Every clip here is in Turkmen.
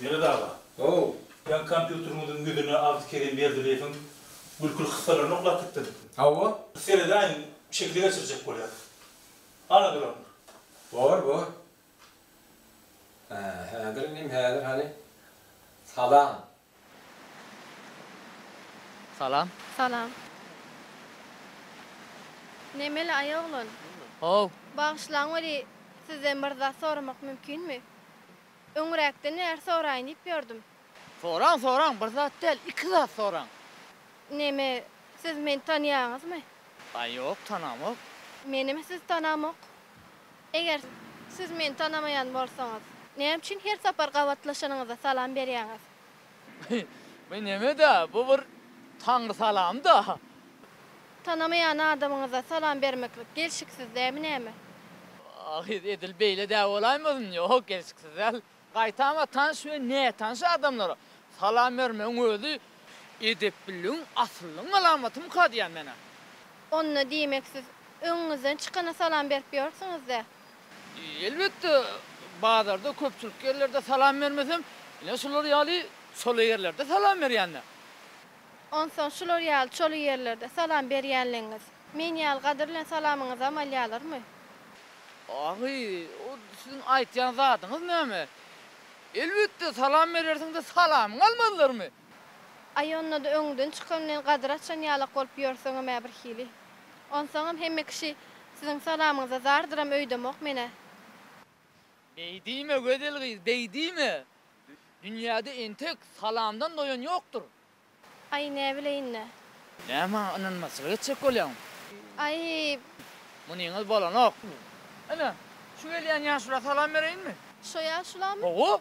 Melet aga. How. Sen kompýuteriňiziň ýüzüne Abdy Kerim Berdileýewiň gülküli kyssalaryny oklap gitdiňmi? Hawa. Seredäýiň, şekili geçirjek bolýar. Hany duran. Bor, bor. Hä, häzir inim, häzir hany. Salam. Salam. Salam. Nemeli aý oglan? How. Bagyşlaň weli sizden bir zat soramak mümkinmi? Öňräkde när soraýyn diýip ýördüm. Soraň soraň bir zat däl iki zat soraň. Neme siz meni tanýaňyzmy? Aý ýok tanamok. Menem sizi tanamok. Eger siz meni tanamaýan bolsaňyz, näme üçin her sapar gabatlaşanyňyzda salam berýäňiz? Bu neme-dä, bu bir Taňry salamy-da. Tanamaýan adamyňyza salam bermeklik gelşiksiz dälmi näme? Ahyry edil beýle-dä bolaýmasyn? Ýok, gelşiksiz däl. Gaýtam-a tanyş we nätanyş adamlara salam bermegiň özi edepliligiň, asyllygyň alamaty-myka diýýän men-ä. Onda diýmek siz öňüňizden çykana salam berip ýörsüňiz-dä? Elbetde, bazarda, köpçülikli ýerlerde salam bermesem, ine şular ýaly çola ýerlerde salam berýän-dä. Onsoň şular ýaly çoly ýerlerde salam berýänligiňiz, men ýaly gadyr bilen salamyňyzy hem alýalyrmy? Ahy, o siziň aýtýan zadyňyz näme? Elbetde, salam berersiň-de, salamyňy almazlarmy? Aý, onda-da öňüňden çykan bilen gadyr açan ýalak bolup ýörseňem-ä birhili. Onsoňam hemme kişi siziň salamyňyza zardyram öýdemok men-ä. Beý diýme, gözel gyz, beý diýme! Dünýäde entek salamdan doýan ýokdur. Aý, näbileýin-dä. Näme maňa ynanmazçylyk etjek bolýaň? Aý! Munyňyz bolanok. Ine, şu gelýän ýaşula salam bereýinmi? Şo ýaşulamy? Hawa,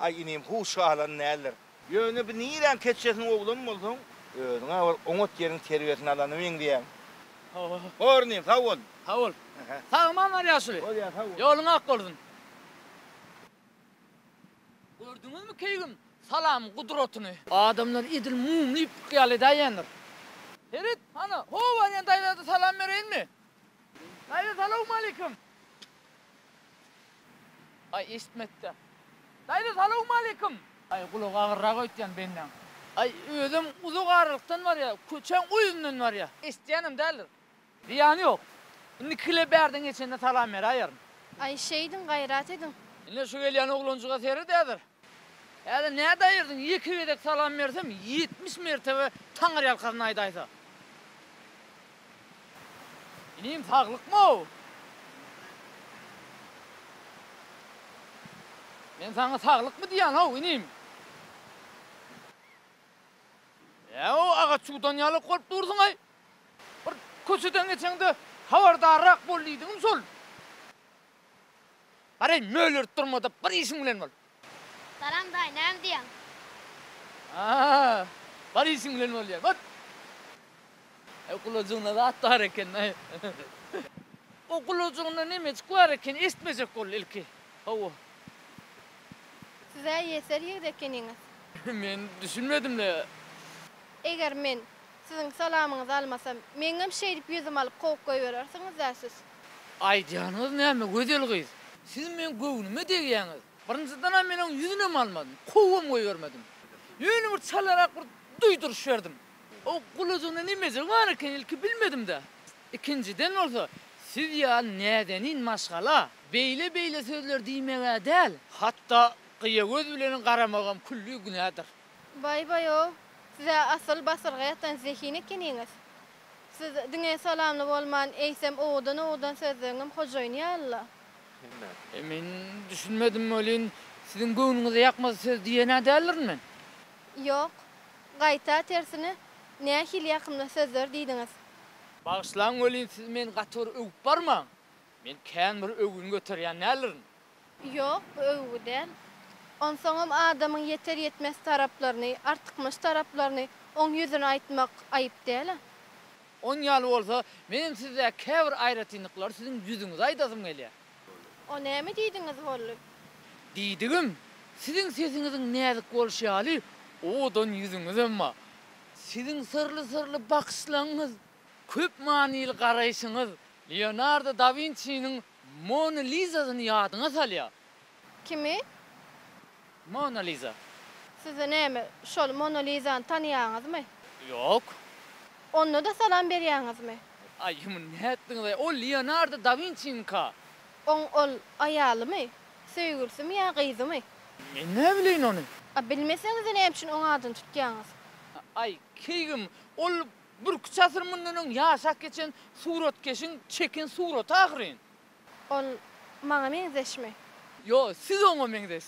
Aý inim huu şu alan däldir. Ýöne bu niräň keçjesiň oglan bolsaň. Özüňä bir oňat ýeriň terbiýesini alana meňzeýäň. Hor inim sag bol. Sag bol. Sag aman bar ýaşuly. Bolýa sag bol. Ýoluň ak bolsun. Gördüňizmi keýgim salam gudratyny. Adamlar edil mum diýip ykýal edäýendir. Ferit hany howwa diýen daýzada salam bereýinmi. Daýza salawmaleýkim. Aý eşitme etde. Daýza salawmaleýkim. Aý gulagy agyrrak öýtýän bendäň. Aý özem uzak aralykdan barýa, köçäň o ýüzünden barýa. Eşitýänem däldir. Zyýany ýok. Indi kile bärden geçende salam beräýerin. Aý şeýdiň, gaýrat ediň. Ine şu gelýän oglanjyga seredädir. Häzir nädip aýyrdyň, ýeke gezek salam bersem, ýetmiş mertebe Taňyrýalkasyn aýdaýsa. Inim, saglykmy-ow? Men saňa saglykmy diýýän-ow, inim? Ä-ow, agaç çuwdan ýalak bolup dursuň-aý! Bir köçeden geçeňde habardarrak bol diýdigim şol. Garaý, mölerip durma-da, bir işiň bilen bol! Salam, daýy, näme diýýäň? Aa, bir işiň bilen bol diýýär, bor! Äý, gulajygynda zat bar eken, daýy. O gulajygynda nämejik bar eken, eşitmejek boldy ilki. Hawa. Siz-ä ýeser ýigit ekeniňiz. Men düşünmedim-le. Eger men Siziň salamyňyzy almasam, meňňem şeýdip ýüzümi alyp kowup goýberersiňiz-dä siz. Aýdýanyňyz näme gözel gyz. Siz meň göwnüme degýäňiz. Birinjidenem men oň ýüzünem almadym, kowam goýbermedim. Ýöne bir çalarak bir duýduryş berdim. Oň gulajygynda nemejik bar eken ilki bilmedimdä. Ikinjiden bolsa siz ýaly näzenin maşgala beýle-beýle sözler diýmegä däl, hatda gyýa göz bilen garamagam külli günädir. Baý-baý-ow, siz-ä asyl basyrga ýatan zehin ekeniňiz. Siz diňe salamly bolman, eýsem owudan-owudan sözleňem hojaýyn ýaly-la. Hemme. Men düşünmedim welin, siziň göwnüňize ýakmaz söz diýen-ä däldirin men? Ýok. Gaýta, tersine, nähili ýakymly sözler diýdiňiz. Bagyşlaň welin, siz meni gaty bir öwüp barmaň. Men kän bir öwgün göterýän däldirin. Ýok, bu öwgi däl. Onsoňam adamyň ýeter-ýetmez taraplaryny, artykmaç taraplaryny oň ýüzüne aýtmak aýyp däl-ä. Oň ýaly bolsa, menem sizdäki käbir aýratynlyklary siziň ýüzüňize aýdasym gelýär. O näme diýdiňiz boldy? Diýdigim, siziň sesiňiziň näzik bolşy ýaly, owadan ýüzüňizem bar. Siziň syrly-syrly bakyşlaryňyz, köp manyly garaýşyňyz Leonardo da Winçiniň Mona Lizasyny ýadyňa salýar. Kimi? Mona Liza. Sizi näme, şol Mona Lizany tanaýaňyzmy? Ýok. Onda-da salam berýäňizmi? Aý, muny nätdiňiz-aý, ol Leonardo da Winçiniňka. Oň ol aýalymy, söýgülisimi ýa gyzymy? Men näbileýin ony? A bilmeseňiz-de näme üçin oň adyny tutýaňyz? Aý, keýgim, ol Birküç asyr mundan öň ýaşap geçen suratkeşiň çeken suraty ahyryn. Ol maňa meňzeşmi? Ýo, siz oňa meňzeş.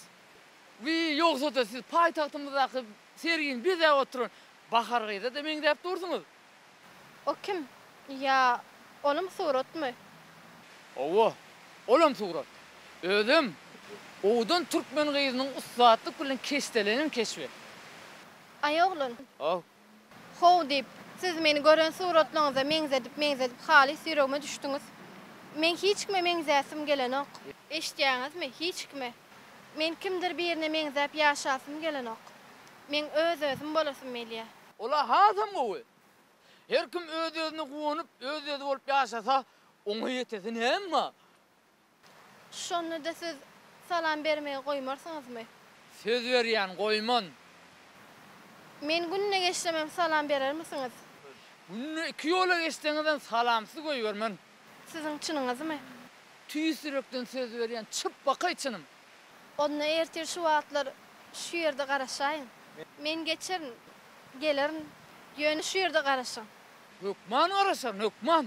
Wiý, ýogsa-da siz paýtagtymyzdaky sergini bezäp oturan Bahar gyza-da meňzäp dursuňyz. O kim? Ýa, olam suratmy? Hawa, olam surat. Özem owadan türkmen gyzynyň ussatlyk bilen keşdelenen keşbi. Aý, oglan! Haw, How diýip, siz meni gören suratlaryňyza meňzedip-meňzedip halys ýüregime düşdüňiz. Meň hiç kime meňzäsim gelenok. Eşitýäňizmi, hiç kime. Men kimdir birine meňzäp ýaşasym gelenok. Meň öz-özüm bolasym gelýä. Ol-a hasam gowy. Her kim öz-özüne guwanyp, öz-özi bolup ýaşasa, oňa ýetesi näme? Şonda-da siz salam bermegi goýmarsyňyzmy? Söz berýän, goýman. Men günde geçsemem salam berermisiňiz? Günde iki ýola geçseňizem salamsyz goýbermen. Siziň çynyňyzmy? Tüýs ýürekden söz berýän, çyp bakaý çynym. Onda ertir şu wagtlar şu ýerde garaşaýyň. Men geçerin, gelerin. Ýöne şu ýerde garaşyň. Hökman garaşaryn, hökman.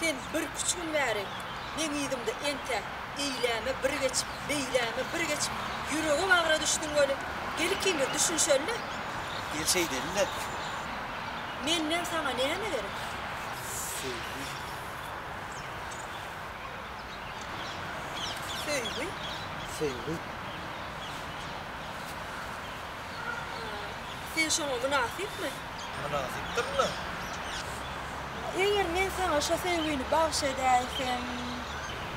Sen birküç gün bäri meň yzymda entä eýläme bir geç, beýläme bir geç, ýüregebagra düşdüň weli, gel ikimiz düşünişeli-le. Gel şeýdeli-le. Menden saňa näme gerek? Söýgi. Söýgi? Söýgi. Sen şoňa mynasypmy? Mynasypdyrlar. Eger men saňa şo söýgini bagyş edäýsem.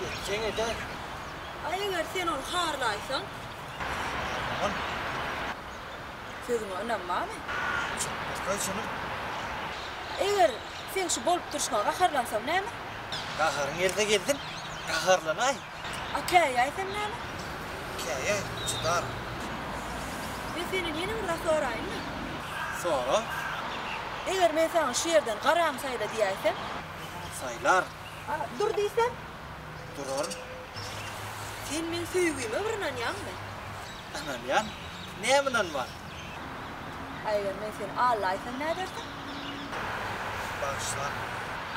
Etseň eder. A eger sen ony harlaýsaň? Harlamagyn. Sözüňe ynanmamy? Çalt bolsa şunuň. A eger seň şu bolup durşuňa gaharlansam näme? Gaharyň gelse gelsin, gaharlanaý. A käýäý sen näme? Käýäý, çydar. Men senden ýene bir zat soraýynmy? Sora. Eger men saňa şu ýerden garaňy saýla diýäýsem? Saýlar. A dur diýsem? Durar. Sen meň söýgime bir ynanýaňmy? Ynanýan. Näme ynanman? A eger men seni Alla aýtsam nädersiň? Bagyşla.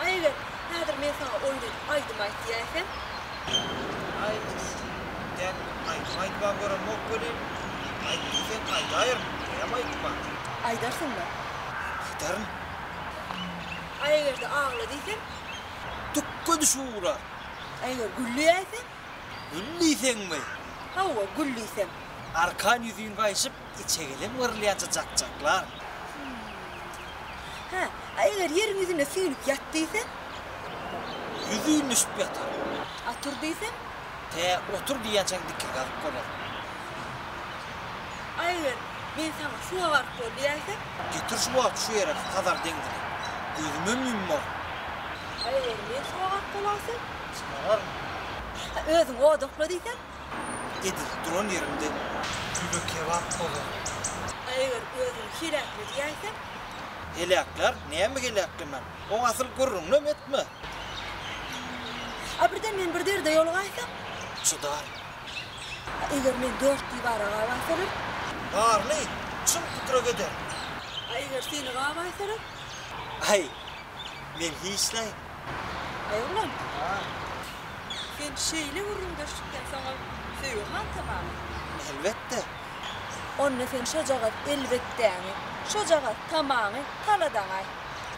A eger häzir men saňa oýun edip aýdym aýt diýäýsem? A eger sen diýen aýdymy aýtmaga görenmok welin, aýt diýseň aýdaýyryn, diýäýem aýdyma. Aýdarsyňmy? Aýdaryn. A eger-de agla diýsem? Dükge düşüp ugrar. A eger gül diýäýsem? Gül diýseňmi? Hawa, gül diýseň. Arkan ýüzin gaýşyp, içegeleň yrylýança jakjaklar. Hä, a eger ýeriň ýüzüne süýnüp ýat diýseň? Ýüzin düşüp ýatar. A tur diýseň? Tä otur diýýänçäň dikge galyp bolar. A eger men saňa suwa baryp bol diýäýsem? Getir şu wagt şu ýere Hazar deňzini. Gözümem ýummagyn. A eger men suwa baryp bolaýsam? Çykararyn. Ata, özüň odakla diýsem. Edil duran ýerimde kübe-kebap bolaryn. A eger özüňi heläkle diýäýsem? Heläklär, näme heläklemän. Oň asyl gürrüňinem etme. A birden men bir derde ýolugaýsam? Çydaryn. A eger men dört diwara gabaýsalar? Barly, çyn pikire gederin. A eger seni gabaýsalar? Aý, men hiç näme. Aý oglan, sen şeýle gürrüňdeşlikden soň-a söýgi han tamamy? Elbetde. Onda sen şojagaz elbetdäňi, şojagaz tamaňy taladaň-aý.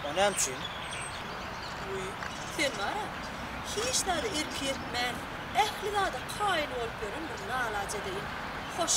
O näme üçin? Wiý, sen bar-a, hiç zada erk etmän, ähli zada kaýyl bolup ýören bir lala jedeýiň. Hoş.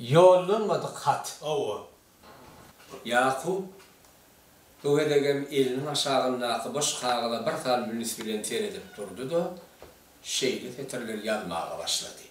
Ýollanmadyk hat. Hawa. Ýakup bu gezegem eliniň aşagyndaky boş kagyza bir salym üns bilen seredip durdy-da, şeýle setirleri ýazmaga başlady.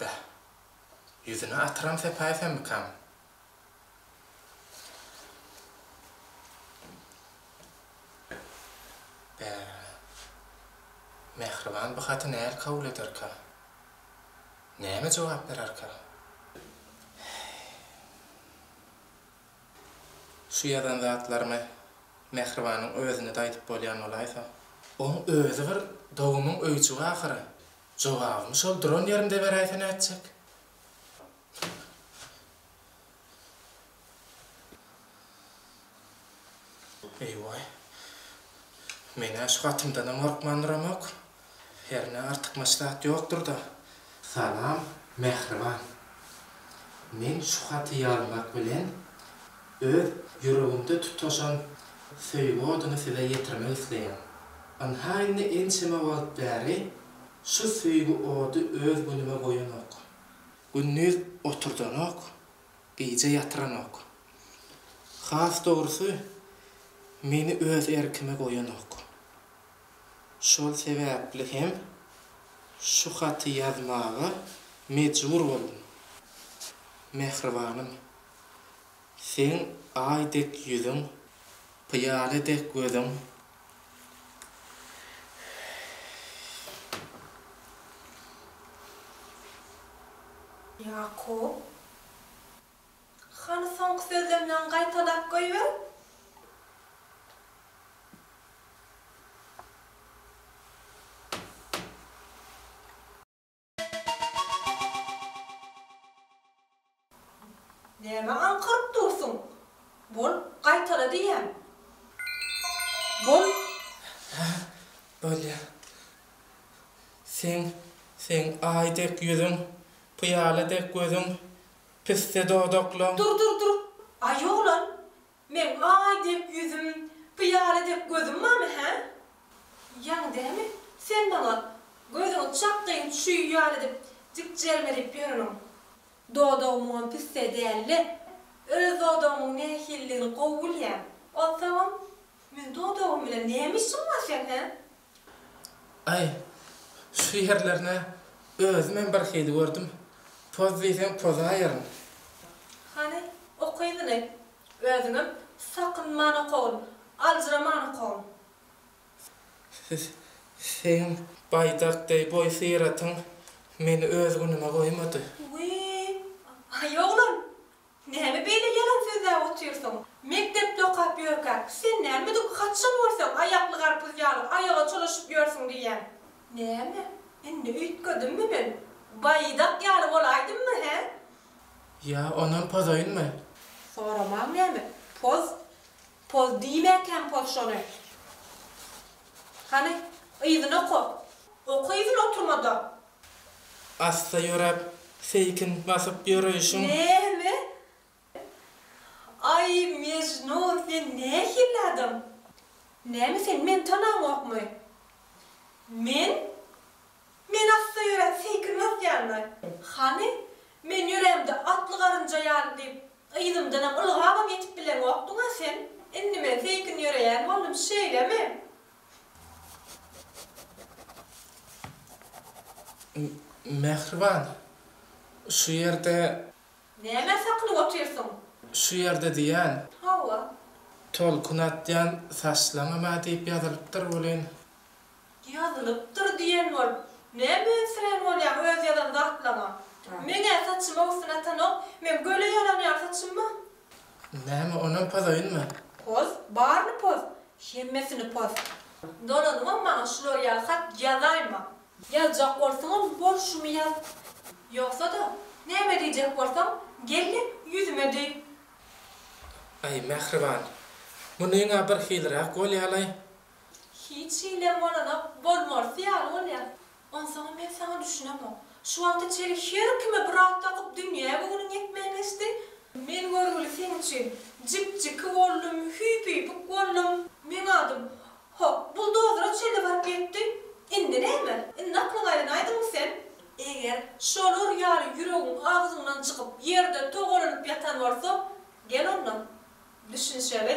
Beh, ýüzüne atyram sepäýsemikam? Beh, mähriban bu haty nähili kabul ederkä? Näme jogap bererkä? Şu ýazan zatlarymy Mähribanyň özüne-de aýdyp bolýan bolaýsa. Oň özi bir dogumyň öýjügi ahyry. Jogabymy şol duran ýerimde beräýse nätjek? Eý-waý. Men-ä şu hatymdanam gorkman duramok. Hernä artykmaç zat ýokdur-da. Salam, mähriban. Men şu haty ýazmak bilen Öz ýüregimde tutaşan söýgi oduny size ýetirmek isleýän. Ynha indi ençeme wagt bäri şu söýgi ody öz günüme goýanok. Gündiz oturdanok, gije ýatyranok. Has dogrusy, meni öz erkime goýanok. Şol sebäpli hem şu haty ýazmaga mejbur boldum, mähribanym. Seň aý dek ýüzüň, pyýale dek gözüň. Ýakup, hany soňky sözlemleňi gaýtalap goýber? Näme aňkyryp dursuň? Bol, gaýtala diýýän. Bol. Hä, bolýa. Seň, seň aý dek ýüzüň, pyýala dek gözüň, pisse dodaklaň. Dur, dur, dur! Aýolan, Meň aý dek ýüzüm, pyýala dek gözüm barmy, hä? Ýaňy dämi, sen maňa gözüňi çakgyň çüý ýaly edip, dikjelmelip ýöreniň? Dodagy muňam pisse däl-le. Öz dodagymyň nähilidigini gowy bilýän. Onsoňam, meniň dodagym bilen näme işiň bar seň, hä? Aý, şu ýerlerine özümem birhili gördüm. Poz diýseň pozaýaryn. Hany, oky ýyly. Özüňem sakynman okagyn, aljyraman okagyn. Seň baýdak deý boý syratyň meni öz günüme goýmady. Wiý, aý oglan, Näme beýle ýalan sözläp otyrsyň? Mekdepde okap ýörkäk, sen nämedik haçan görseň aýakly garpyz ýaly aýaga çolaşyp ýörsüň diýýän. Näme, indi üýtgedimmi men? Baýdak ýaly bolaýdymmy, hä? Ýa ondan pozaýynmy? Soramaň näme, poz? Poz diýmäkäm poz şony. Hany, yzyny oka. Oka yzyny oturmada. Asla ýöräp, seýkin basyp ýöreýşiň. Näme? Aý, Mejnun, sen nähili adam? Näme sen meni tanaňokmy? Men? Men asla ýöräp, seýkin basýanmy? Hany, men ýörämde atly garynja ýaly diýip, yzymdanam ylgabam ýetip bileňokdyň-a sen? Indi men seýkin ýöreýän boldum, şeýlemi? Mähriban, şu ýerde. Nämä sakynyp otyrsyň? Şu ýerde diýýän. Hawa. Tolkun atýan saçlaňama diýip ýazylypdyr welin. Ýazylypdyr diýen bol. Ne mensirän bolýaň öz ýazan zatlaňa. Meň-ä saçyma gysyn atanok, men göle ýalanýan saçymmy? Näme onam pozoýunmy? Poz, baryny poz, hemmesini poz. Dolanymam maňa şular ýaly hat ýazaýma. Ýazjak bolsaňam bol şumy ýaz. Ýogsa-da, näme diýjek bolsaň, gel-de ýüzüme diý. Aý, mähriban, munyň-a birhiliräk bolýa-laý. Hiç hilem bolanok, bolmalysy ýaly bolýa. Onsoňam men saňa düşünemok. Şu wagta çenli her kime bir at dakyp dünýä göwnüň ýetmän geçdi. Men görgüli seň üçin jik-jiki boldum, hüýpüýpük boldum. Meň adym, hok, buldozere çenli baryp ýetdi. Indi näme? Indi aklyňy aýlanaýdyňmy sen? Eger şolar ýaly ýüregiň agzyňdan çykyp, ýerde togalanyp ýatan bolsa, gel onda, düşünişeli.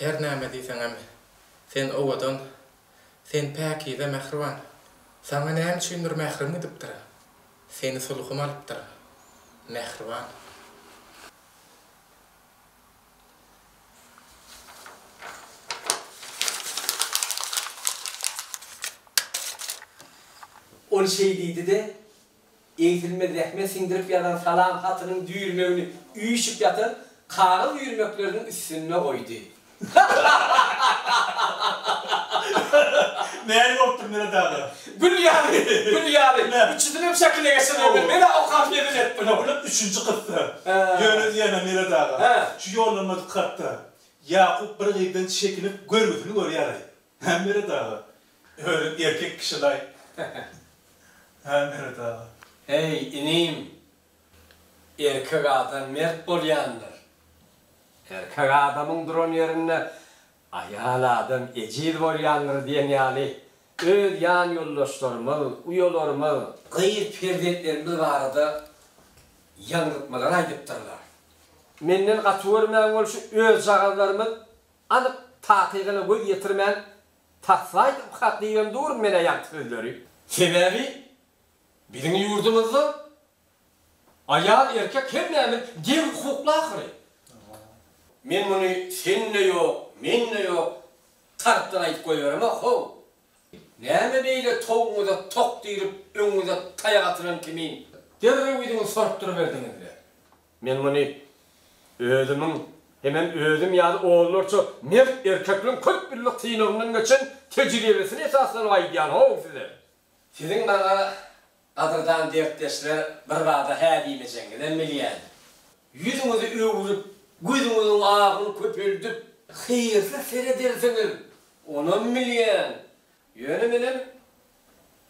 Her näme diýseňem, sen owadan, sen päkize, mähriban. Saňa näme üçindir mährim gidipdir. Seni sulhum alypdyr, mähriban. Ol şeý diýdi-de. Egsilmez zähmet siňdirip ýazan salam hatynyň düýrmegini üýşüp ýatan kagyz üýrmekleriniň üstünde goýdy. Nähili bolupdyr Meret aga? Gül ýaly, gül ýaly. Üçüsinem şekile geçirdi. Men men-ä okap hezil etdim. Ine, bul-a üçünji kyssa. Ýöne diýýän-ä Meret aga, şu ýollanmajyk hatda Ýakup bir gyzdan çekinip görgüsini görýär-aý. Mämmeret aga, özüň erkek kişilaý. Mämmeret aga. Heý, inim, erkek adam mert bolýandyr. Erkek adamyň duran ýerinde aýal adam ejiz bolýandyr diýen ýaly öz ýan ýoldaşlarymyz, uýalarymyz, gyz perzentlerimiz barada ýaňzytmalar aýdypdyrlar. Menden gaty görmäň bolşy özjagazlarymyz Anyk takygyna göz ýetirmän, Taslaýt ukat diýibem durun men-ä ýaňky sözleri. Sebäbi biziň ýurdumyzda aýal, erkek hemmämiz deň hukukly ahyry. Men muny sen-de ýok, men-de ýok tarapdan aýdyp goýberem-ä, how! Näme beýle towugyňyza tok dirip, öňüňize taýak atylan kimin derrew ýüzüňi sorupdyryberdiňiz-le? Men muny özümiň hemem özüm ýaly onlarça mert erkekleň köp ýyllyk synagyndan geçen tejribesine esaslanyp aýdýan-how size. Siziň maňa, gadyrdan dertdeşler, birbada hä diýmejegiňizem bilýän. Ýüzüňizi öwrüp, gözüňiziň agyny köpeldip, hyýrly seredersiňiz, onam bilýän. Ýöne menem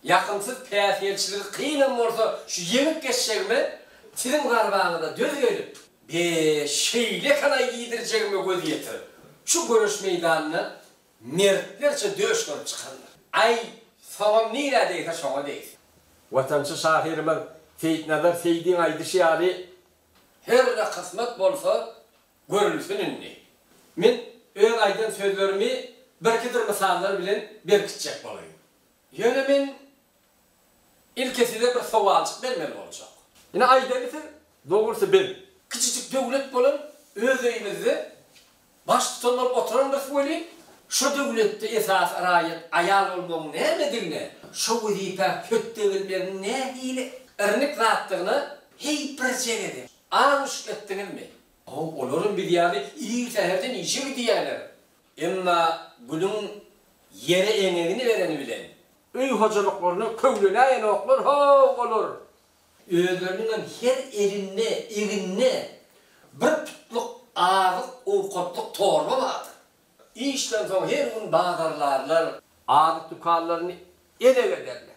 Ýakymsyz päsgelçiligi kynam bolsa şu ýeňip geçjegime siziň zarbaňyza döz gelip, be şeýle kanaý iýdirjegime göz ýetirip, şu göreş meýdanyna mertlerçe döş bolup çykandym. Aý, soňam nirä degse şoňa degsin. Watançy şahyrymyz Seýitnazar Seýdiň aýdyşy ýaly, Her ne kysmat bolsa, Görülsin indi. Men öz aýdan sözlerimi birkidir mysallar bilen berkitjek bolaýyn. Ýöne men ilki size bir sowaljyk bermeli boljak. Ine aýdaly siz, dogrusy biz, kiçijik döwlet bolan öz öýümizde baştutan bolup oturandyrys welin, şo döwletde esasy raýat aýal bolmagyň nämedigine, şo wezipä hötde gelmegiň nähili irnik zatdygyna heý birje gezek, Aň uçup gitdiňizmi? Haw, olaram biz ýaly ir säherden işe gidýärler. Emma Gülüň ýere eňegini bereni bilen. Öý hojalyklaryna köwlenäýenoklar, haw, olar. Özleriniňem her elinde, egninde bir putluk azyk-owkatlyk torba bardyr. Işden soň her gün bazarlarlar. Azyk dükanlaryny ele-ge ederler.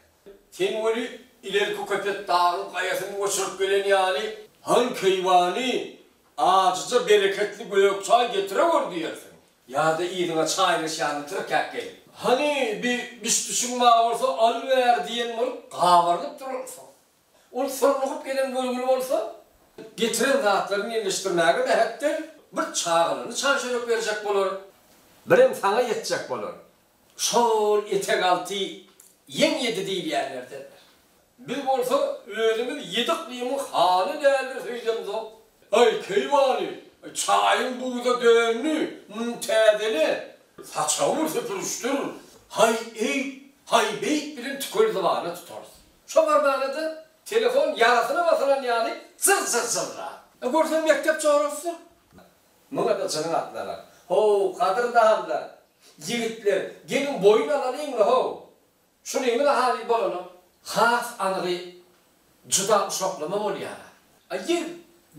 Sen weli, ilerki köpet dagyň gaýasyny göçürip gelen ýaly. Han keýwany, ajyja bereketli gök çaý getire gör diýersiň. Ýa-da yzyňa çaýryş ýaly tirkäp gelip. Hany, bir bişbişiň bar bolsa, al-ber diýen bolup gabarynyp durarsyň. Ol sorlugyp gelen görgüli bolsa, getiren zatlaryny ýerleşdirmäge mähetdel. Bir çaganyny çan-çörek berjek bolar. Birem saňa ýetjek bolar. Şol etek alty ýeň ýedi diýilýänlerdendir. Biz bolsa özümiz ýedi yklymyň hany däldir söýdemzok. Aý, keýwany, çaýyň buza döndi, muny täzele. Saçagymy süpürişdir, haý eýt, haý beýt bilen tükel zybana tutarys. Çomar barada telefon ýarasyna basylan ýaly jyr-jyr jyrlap. E, görseň mekdep jorasydyr. Muňa-da jynyň atlanar. Ho-w, gadyrdanlar, ýigitler, geliň boýun alalyň-la, ho-w! Şunyňyz-a halyl bolana has anygy juda uşaklama bolýar-a. A ýer,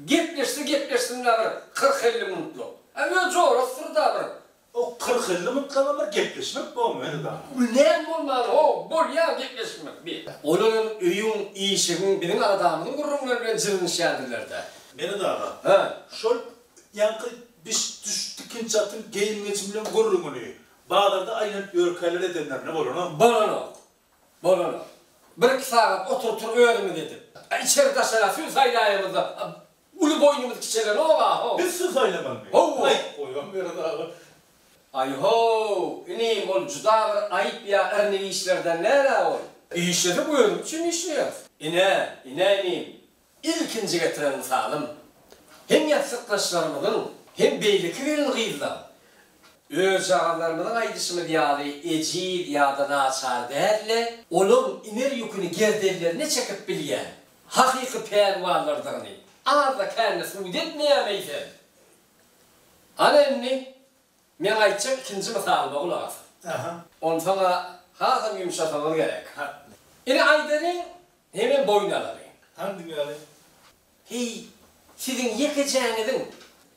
gepleşse gepleşsin-la bir kyrk-elli minutlyk. A öz jorasydyr-da bir. O kyrk-elli minutga bollar gepleşmek bor meni dana. Ul näme bolmany how bolýa gepleşmek bi. Olaram öýüň işigiň biziň agzamyzyň gürrüňleri bilen jylnyşýadyrlarda. Meni dana. Hä. Şol ýaňky biş düş tikinçi atyň geýim-gejim bilen gürrüňini bazarda aýlanyp ýörkäler edenlerine bolana. Bolanok. Bolanok. Bir-iki sagat oturypdyr özümiz edip. Içeri daşara sül saýlaýamyzda Uly boýnuňyz kiçelenoga-how. Biz söz aýlamaly meý. Ho-wo. Aýt, goýam ýöre dagy. Aý-ho-w, inim, ol juda bir aýyp ýa irnik işlerden däl-ä ol. Işlesek özümiz üçin işleýäs. Ine, ine inim, ilkinji getiren mysalym. Hem ýassykdaşlarymyzyň, hem beýleki gelin-gyzlaň, özjagazlarymyzyň aýdyşymyz ýaly ejiz ýa-da naçar däl-de, olaryň iner ýüküni gerdenlerine çekip bilýän, hakyky pälwanlardygyny azda-kände subut etmeýärmi eýsem? Ana indi, meň aýtjak ikinji mysalyma gulak asyň. Onsoň-a hasam ýumşasaňyz gerek. Ine aýdalyň, hemem boýun alalyň. Hany diňläliň. Heý, siziň ýekejäňiziň,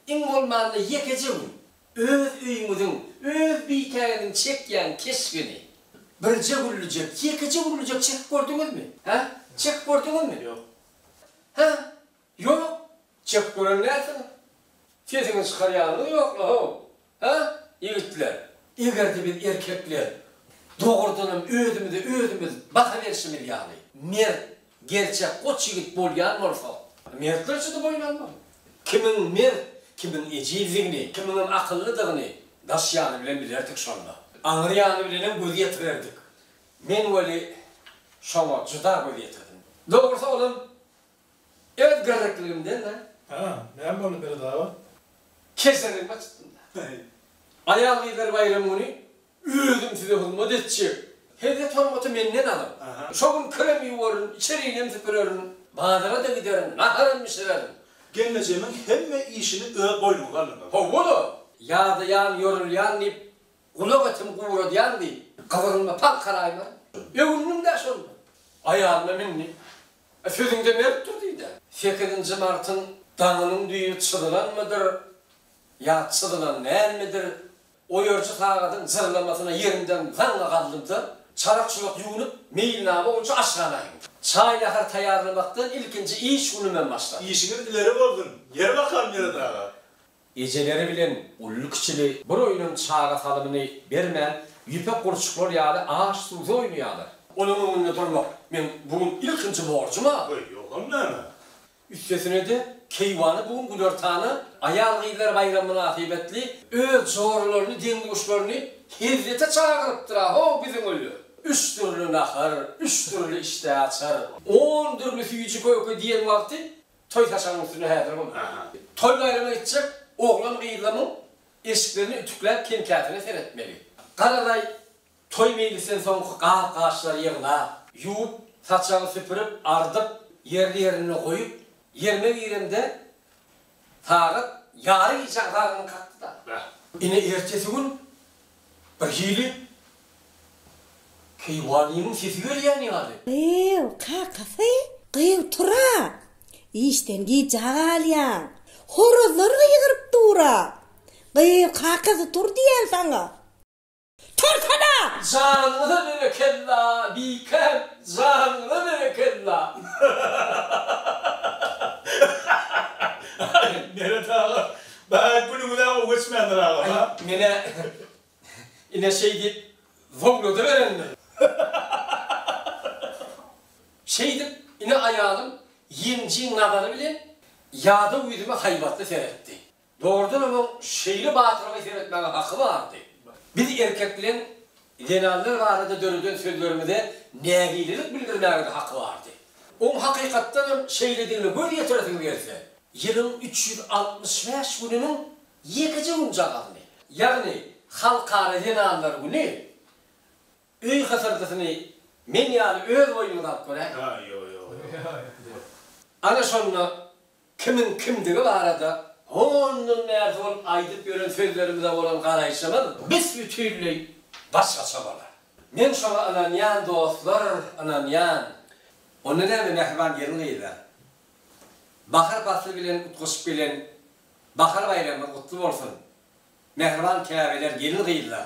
iň bolmanda ýekeje gün Öz öýüňiziň, öz bikäňiziň çekýän keşbini birje güllüjek, ýekeje güllüjek çekip gördüňizmi? Hä? Çekip gördüňizmi? Ýok. Hä? Ýok? Çekip gören dälsiňiz. Sesiňizi çykarýanyňyz ýokla-how. Hä? Ýigitler, eger-de biz erkekler dogrudanam özümize özümiz baha berşimiz ýaly, mert, Gerçek goç ýigit bolýan bolsa. Mertlerçe-de boýun almaly. Kimiň mert, kimiň ejizdigini, kimiňem akyllydygyny daş ýany bilen bilerdik şonda. Aňry ýany bilenem göz ýetirerdik. Men weli şoňa juda göz ýetirdim. Dogrusy olam öz gyrrykligimden-dä. Hä, näme boldy Birzaba? Keserligime çykdym-da. Aýal-gyzlar baýramy güni Özüm size hyzmat etjek. Hezzet-hormaty menden alyň. Şo gün kirem ýuwarin, içerinem süpürerin. Bazara-da giderin, naharam bişirerin. Gelnejemiň hemme işini öz boýnuňyza alyň. Hawa-la! Ýadaýan, ýorulýan diýip, gulak etim guradýan diýip, gyzygymda pal karaýmary. Öwündim-dä şonda. Aýalyma mindi. Sözüňde mertdir diý-dä. Sekizinji martyň daňynyň düýbi çyzylanmydyr ýa çyzylan dälmidir? Oýarçy sagadyň jyrlamasyna ýerinden zaňňa galdymda, çarak-çürek ýuwnup, meýilnama boýunça aşhana eňdim. Çaý-nahar taýýarlamakdan ilkinji iş günümem başlady. Işiňiz ileri bolsun, ýeri bakan Meret aga! Ejeleri bilen uly-kiçili bir oýnam çaga salymyny bermän, ýüpek gurçuklar ýaly aş-suwsuz oýnaýarlar. Olaryň öňünde durmak meň bu gün ilkinji borjum-a! Goý, ýogsam näme? Üstesine-de, keýwany bu gün günortana aýal-gyzlar baýramy mynasybetli öz joralaryny, deň-duşlaryny hezzete çagyrypdyr-a, ho, biziň öýler! Üç dürli nahar, üç dürli işdäaçar, on dürli süýji-köke diýen wagty toý saçagynyň üstünde häzir bolýar. Toý-baýrama gitjek oglan-gyzlamyň eşiklerini ütükläp kem-käsine seretmeli. Garaday, Toý meýlisden soňky gap-gaçlary ýygnap, ýuwup, saçagy süpürip, ardyp, ýerli-ýerinde goýup, ýerime giremde, sagat ýary gije azanyny kakdy-da. Ine, ertesi gün birhili keýwanymyň sesi gelýän ýaly. Gyýw, kakasy, gyýw tur-a! Işden gijä galýaň. Horazlar gygyryp dur-a! Gyýw, kakasy, tur diýýän saňa! Tursana! Janyňyza berekella Bikäm janyňyza berekella. Aý Meret aga bäý günüňizä gowy geçmändir aga ha. Aý menä ine şeý diýip zowladyberendir. Şeýdip ine aýalym ýenjiň nazary bilen ýadaw ýüzüme haýbatly seretdi. Dogrudan hem oň şeýle batyrlyga seretmäge haky bardy. Biz erkek bilen zenanlar barada döreden sözlerimize nägilelik bildirmäge-de haky bardy. Oň hakykatdan hem şeýledigine göz ýetiresiňiz gelse, ýylyň üç ýüz altmyş bäş gününiň ýekeje günjagazyny, ýagny Halkara zenanlar güni öý hysyrdysyny men ýaly öz boýnuňyza alyp göräýiň. Ana şonda Kimiň kimdigi barada ondan bärde bolup aýdyp ýören sözlerimize bolan garaýşymyz büs-bütinleý başgaça bolar. Men şoňa ynanýan dostlar, ynanýan. Onda näme mähriban gelin gyzlar. Bahar pasly bilen utgaşyp gelen bahar baýramyňyz gutly bolsun. Mähriban käbeler gelin gyzlar.